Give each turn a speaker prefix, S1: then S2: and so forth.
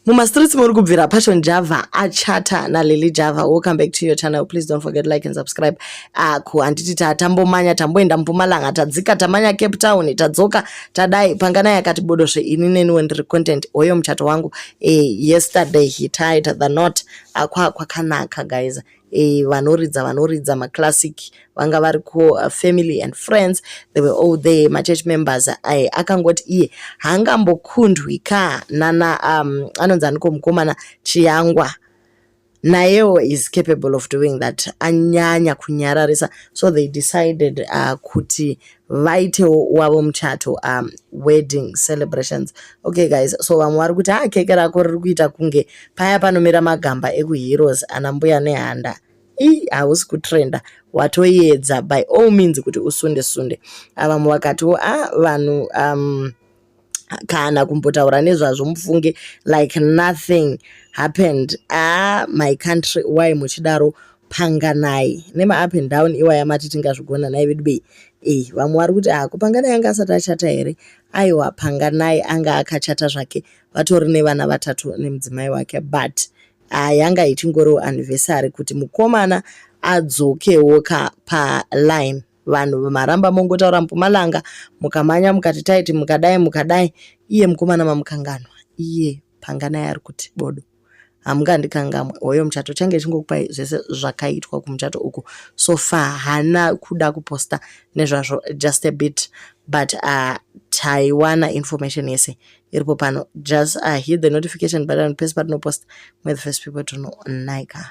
S1: mumastreets muri kubvira passion java achata nalily java welcome back to your channel please don't forget like and subscribe aku handiti tatambomanya tamboenda mpumalanga tadzika tamanya cape town tadzoka tadai panganai akati bodo zve ini neni wendiri content hoyo muchato wangu e, yesterday he tied the not akwa kwakanaka guys eh, vanoridza vanoridza maclassic vanga vari ko uh, family and friends they were all there machurch members aye akangoti iye haangambokundwi ka nana um, anonzi aniko mukomana chiyangwa nayewo is capable of doing that anyanya kunyararisa so they decided uh, kuti vaitewo wavo muchato um, wedding celebrations okay guys so vamwe vari kuti ha ah, keke rako riri kuita kunge paya panomira magamba ekuheroes ana mbuya nehanda ii hausi kutrenda watoyedza by all means kuti usunde sunde ah, vamwe vakatiwo a ah, vanhu um, kana kumbotaura nezvazvo mufunge like nothing happened ah my country why muchidaro panganai nemaup and down iwaya mati tingazvigona nai vedu bei e vamwe vari kuti ah kupanganai anga asati achata here aiwa panganai anga akachata zvake vatori nevana vatatu nemudzimai wake but ah, yanga ichingoriwo anniversary kuti mukomana adzokewo ka paline vanhu maramba mongotaura mupumalanga mukamhanya mukati taiti mukadai mukadai iye mukomana mamukanganwa iye panganai ari kuti bodo hamungandikangamwe hoyo muchato change chingokupai zvese zvakaitwa kumuchato uku so far hana kuda kuposta nezvazvo just a bit but uh, taiwana information yese iripo pano just uh, hit the notification button pese patinoposta mwere the first people to know naika